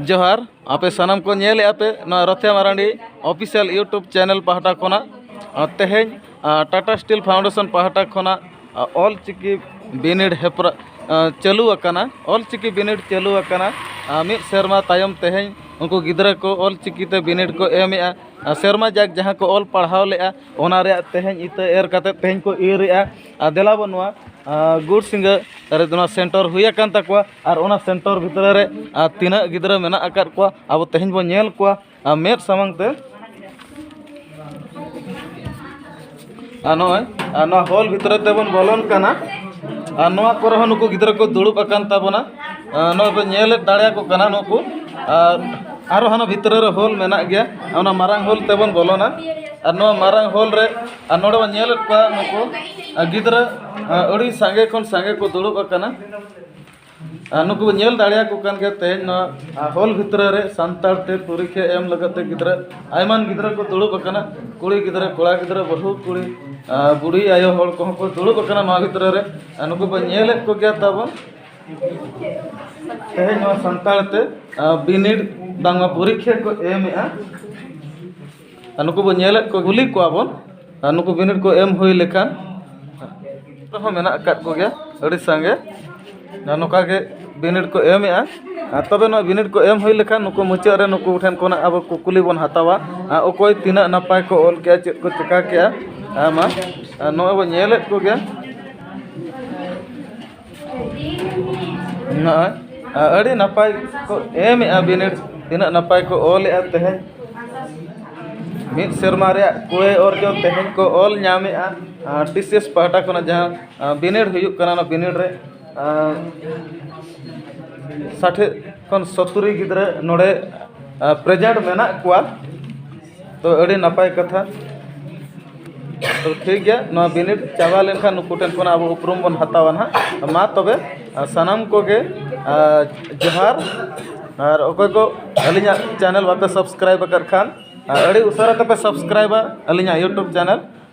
ᱡᱚᱦᱟᱨ ᱟᱯᱮ ᱥᱟᱱᱟᱢ ᱠᱚ ᱧᱮᱞᱮᱫᱼᱟ ᱯᱮ ᱱᱚᱣᱟ ᱨᱚᱛᱷᱭᱟ ᱢᱟᱨᱟᱱᱰᱤ ᱚᱯᱷᱤᱥᱤᱭᱟᱞ ᱤᱭᱩᱴᱩᱵᱽ ᱪᱮᱱᱮᱞ ᱯᱟᱦᱴᱟ ᱠᱷᱚᱱᱟᱜ ᱛᱮᱦᱮᱧ ᱴᱟᱴᱟ ᱥᱴᱤᱞ ᱯᱷᱟᱣᱩᱱᱰᱮᱥᱚᱱ ᱯᱟᱦᱴᱟ ᱠᱷᱚᱱᱟᱜ ᱟᱨ ᱚᱞ ᱪᱤᱠᱤ ᱵᱤᱱᱤᱰ ᱦᱮᱯᱨᱟᱣ ᱪᱟᱹᱞᱩ ᱟᱠᱟᱱᱟ ᱚᱞ ᱪᱤᱠᱤ ᱵᱤᱱᱤᱰ ᱪᱟᱹᱞᱩ ᱟᱠᱟᱱᱟ ᱟᱨ ᱢᱤᱫ ᱥᱮᱨᱢᱟ ᱛᱟᱭᱚᱢ ᱛᱮᱦᱮᱧ ᱩᱱᱠᱩ ᱜᱤᱫᱽᱨᱟᱹ ᱠᱚ ᱚᱞ ᱪᱤᱠᱤ ᱛᱮ ᱵᱤᱱᱤᱰ ᱠᱚ ᱮᱢᱮᱜᱼᱟ ᱟᱨ ᱥᱮᱨᱢᱟ ᱡᱟᱠ ᱡᱟᱦᱟᱸ ᱠᱚ ᱚᱞ ᱯᱟᱲᱦᱟᱣ ᱞᱮᱜᱼᱟ ᱚᱱᱟ ᱨᱮᱭᱟᱜ ᱛᱮᱦᱮᱧ ᱤᱛᱟᱹ ᱮᱨ ᱠᱟᱛᱮ ᱛᱮᱦᱮᱧ ᱠᱚ ᱤᱨᱻᱮᱜᱼᱟ ᱟᱨ ᱫᱮᱞᱟ ᱵᱚᱱ ᱱᱚᱣᱟ ᱜᱩᱲ ᱥᱤᱸᱜᱟᱹ ᱨᱮᱫᱚ ᱱᱚᱣᱟ ᱥᱮᱱᱴᱟᱨ ᱦᱩᱭ ᱟᱠᱟᱱ ᱛᱟᱠᱚᱣᱟ ᱟᱨ ᱚᱱᱟ ᱥᱮᱱᱴᱟᱨ ᱵᱷᱤᱛᱨᱤ ᱨᱮ ᱟᱨ ᱛᱤᱱᱟᱹᱜ ᱜᱤᱫᱽᱨᱟᱹ ᱢᱮᱱᱟᱜ ᱟᱠᱟᱫ ᱠᱚᱣᱟ ᱟᱵᱚ ᱛᱮᱦᱮᱧ ᱵᱚᱱ ᱧᱮᱞ ᱠᱚᱣᱟ ᱟᱨ ᱢᱮᱫ ᱥᱟᱢᱟᱝ ᱛᱮ ᱟᱨ ᱱᱚᱜᱼᱚᱭ ᱟᱨ ᱱᱚᱣᱟ ᱦᱚᱞ ᱵᱷᱤᱛᱨᱤ ᱛᱮᱵᱚᱱ ᱵᱚᱞᱚᱱ ᱠᱟᱱᱟ ᱟᱨ ᱱᱚᱣᱟ ᱠᱚᱨᱮ ᱦᱚᱸ ᱱᱩᱠᱩ ᱜᱤᱫᱽᱨᱟᱹ ᱠᱚ ᱫᱩᱲᱩᱵ ᱟᱠᱟᱱ ᱛᱟᱵᱚᱱᱟ ᱱᱚᱜᱼᱚᱭ ᱵᱚᱱ ᱧᱮᱞ ᱫᱟᱲᱮᱭᱟᱠᱚ ᱠᱟᱱᱟ ᱱᱩᱠᱩ ᱟᱨ ᱟᱨᱚ ᱦᱟᱱᱟ ᱵᱷᱤᱛᱨᱤ ᱨᱮ ᱦᱚᱞ ᱢᱮᱱᱟᱜ ᱜᱮᱭᱟ ᱚᱱᱟ ᱢᱟᱨᱟᱝ ᱦᱚᱞ ᱛᱮᱵᱚᱱ ᱵᱚᱞᱚᱱᱟ ᱟᱨ ᱱᱚᱣᱟ ᱢᱟᱨᱟᱝ ᱦᱚᱞ ᱨᱮ ᱟᱨ ᱱᱚᱰᱮ ᱵᱚᱱ ᱧᱮᱞᱮᱫ ᱠᱚᱣᱟ ᱱᱩᱠᱩ ᱜᱤᱫᱽᱨᱟᱹ ᱟᱹᱰᱤ ᱥᱟᱸᱜᱮ ᱠᱷᱚᱱ ᱥᱟᱸᱜᱮ ᱠᱚ ᱫᱩᱲᱩᱵ ᱟᱠᱟᱱᱟ ᱟᱨ ᱱᱩᱠᱩ ᱵᱚᱱ ᱧᱮᱞ ᱫᱟᱲᱮᱭᱟᱠᱚ ᱠᱟᱱ ᱜᱮᱭᱟ ᱛᱮᱦᱮᱧ ᱱᱚᱣᱟ ᱦᱚᱞ ᱵᱷᱤᱛᱨᱤ ᱨᱮ ᱥᱟᱱᱛᱟᱲ ᱛᱮ ᱯᱚᱨᱤᱠᱠᱷᱟ ᱮᱢ ᱞᱟᱹᱜᱤᱫ ᱛᱮ ᱜᱤᱫᱽᱨᱟᱹ ᱟᱭᱢᱟ ᱜᱤᱫᱽᱨᱟᱹ ᱠᱚ ᱫᱩᱲᱩᱵ ᱟᱠᱟᱱᱟ ᱠᱩᱲᱤ ᱜᱤᱫᱽᱨᱟᱹ ᱠᱚᱲᱟ ᱜᱤᱫᱽᱨᱟᱹ ᱵᱟᱹᱦᱩ ᱠᱩᱲᱤ ᱟᱨ ᱵᱩᱰᱷᱤ ᱟᱭᱳ ᱦᱚᱲ ᱠᱚᱦᱚᱸ ᱠᱚ ᱫᱩᱲᱩᱵ ᱟᱠᱟᱱᱟ ᱱᱚᱣᱟ ᱵᱷᱤᱛᱨᱤ ᱨᱮ ᱟᱨ ᱱᱩᱠᱩ ᱵᱚᱱ ᱧᱮᱞᱮᱫ ᱠᱚᱜᱮᱭᱟ ᱛᱟᱵᱚᱱ ᱛᱮᱦᱮᱧ ᱱᱚᱣᱟ ᱥᱟᱱᱛᱟᱲ ᱛᱮ ᱵᱤᱱᱤᱰ ᱵᱟᱝᱢᱟ ᱯᱚᱨᱤᱠᱠᱷᱟ ᱠᱚ ᱮᱢᱮᱫᱼᱟ ᱟᱨ ᱱᱩᱠᱩ ᱵᱚᱱ ᱧᱮᱞᱮᱫ ᱠᱚ ᱠᱩᱞᱤ ᱠᱚᱣᱟ ᱵᱚᱱ ᱟᱨ ᱱᱩᱠᱩ ᱵᱤᱱᱤᱰ ᱠᱚ ᱮᱢ ᱦᱩᱭ ᱞᱮᱠᱷᱟᱱ ᱟᱨᱦᱚᱸ ᱢᱮᱱᱟᱜ ᱟᱠᱟᱫ ᱠᱚᱜᱮᱭᱟ ᱟᱹᱰᱤ ᱥᱟᱸᱜᱮ ᱟᱨ ᱱᱚᱝᱠᱟ ᱜᱮ ᱵᱤᱱᱤᱰ ᱠᱚ ᱮᱢᱮᱫᱼᱟ ᱟᱨ ᱛᱚᱵᱮ ᱱᱚᱣᱟ ᱵᱤᱱᱤᱰ ᱠᱚ ᱮᱢ ᱦᱩᱭ ᱞᱮᱠᱷᱟᱱ ᱱᱩᱠᱩ ᱢᱩᱪᱟᱹᱫ ᱨᱮ ᱱᱩᱠᱩ ᱴᱷᱮᱱ ᱠᱷᱚᱱᱟᱜ ᱟᱵᱚ ᱠᱩᱠᱞᱤ ᱵᱚᱱ ᱦᱟᱛᱟᱣᱟ ᱟᱨ ᱚᱠᱚᱭ ᱛᱤᱱᱟᱹᱜ ᱱᱟᱯᱟᱭ ᱠᱚ ᱚᱞ ᱠᱮᱜᱼᱟ ᱪᱮᱫ ᱠᱚ ᱪᱤᱠᱟᱹ ᱠᱮᱜᱼᱟ ᱟᱭᱢᱟ ᱟᱨ ᱱᱚᱜᱼᱚᱭ ᱵᱚᱱ ᱧᱮᱞᱮᱫ ᱠᱚᱜᱮᱭᱟ ᱱᱚᱜᱼᱚᱭ ᱟᱹᱰᱤ ᱱᱟᱯᱟᱭ ᱠᱚ ᱮᱢᱮᱫᱼᱟ ᱵᱤᱱᱤᱰ ᱛᱤᱱᱟᱹᱜ ᱱᱟᱯᱟᱭ ᱠᱚ ᱚᱞᱮᱫᱼᱟ ᱛᱮᱦᱮᱧ ᱢᱤᱫ ᱥᱮᱨᱢᱟ ᱨᱮᱭᱟᱜ ᱠᱩᱲᱟᱹᱭ ᱚᱨᱡᱚ ᱛᱮᱦᱮᱧ ᱠᱚ ᱚᱞ ᱧᱟᱢᱮᱫᱼᱟ ᱟᱨ ᱴᱤ ᱥᱤ ᱮᱥ ᱯᱟᱦᱴᱟ ᱠᱷᱚᱱᱟᱜ ᱡᱟᱦᱟᱸ ᱵᱤᱱᱤᱰ ᱦᱩᱭᱩᱜ ᱠᱟᱱᱟ ᱚᱱᱟ ᱵᱤᱱᱤᱰ ᱨᱮ ᱥᱟᱴᱷᱮ ᱠᱷᱚᱱ ᱥᱳᱛᱛᱳᱨᱤ ᱜᱤᱫᱽᱨᱟᱹ ᱱᱚᱰᱮ ᱯᱨᱮᱡᱮᱱᱴ ᱢᱮᱱᱟᱜ ᱠᱚᱣᱟ ᱛᱳ ᱟᱹᱰᱤ ᱱᱟᱯᱟᱭ ᱠᱟᱛᱷᱟ ᱛᱳ ᱴᱷᱤᱠ ᱜᱮᱭᱟ ᱱᱚᱣᱟ ᱵᱤᱱᱤᱰ ᱪᱟᱵᱟ ᱞᱮᱱᱠᱷᱟᱱ ᱱᱩᱠᱩ ᱴᱷᱮᱱ ᱠᱷᱚᱱ ᱟᱵᱚ ᱩᱯᱨᱩᱢ ᱵᱚᱱ ᱦᱟᱛᱟᱣᱟ ᱦᱟᱸᱜ ᱢᱟ ᱛᱚᱵᱮ ᱥᱟᱱᱟᱢ ᱠᱚᱜᱮ ᱡᱚᱦᱟᱨ ᱟᱨ ᱚᱠᱚᱭ ᱠᱚ ᱟᱹᱞᱤᱧᱟᱜ ᱪᱮᱱᱮᱞ ᱵᱟᱯᱮ ᱥᱟᱵᱥᱠᱨᱟᱭᱤᱵᱽ ᱟᱠᱟᱫ ᱠᱷᱟᱱ ᱟᱹᱰᱤ ᱩᱥᱟᱹᱨᱟ ᱛᱮᱯᱮ ᱥᱟᱵᱥᱠᱨᱟᱭᱤᱵᱟ ᱟᱹᱞᱤᱧᱟᱜ ᱤᱭᱩᱴᱩᱵᱽ ᱪᱮᱱᱮᱞ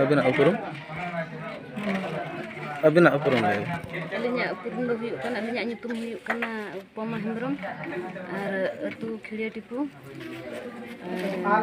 ᱟᱹᱵᱤᱱᱟᱜ ᱩᱯᱨᱩᱢ ᱟᱹᱵᱤᱱᱟᱜ ᱩᱯᱨᱩᱢ ᱞᱟᱹᱭ ᱵᱤᱱ ᱟᱹᱞᱤᱧᱟᱜ ᱩᱯᱨᱩᱢ ᱫᱚ ᱦᱩᱭᱩᱜ ᱠᱟᱱᱟ ᱟᱹᱞᱤᱧᱟᱜ ᱧᱩᱛᱩᱢ ᱦᱩᱭᱩᱜ ᱠᱟᱱᱟ ᱩᱯᱚᱢᱟ ᱦᱮᱢᱵᱨᱚᱢ ᱟᱨ ᱟᱹᱛᱩ ᱠᱷᱤᱲᱤᱭᱟᱹ ᱴᱤᱯᱩ ᱟᱨ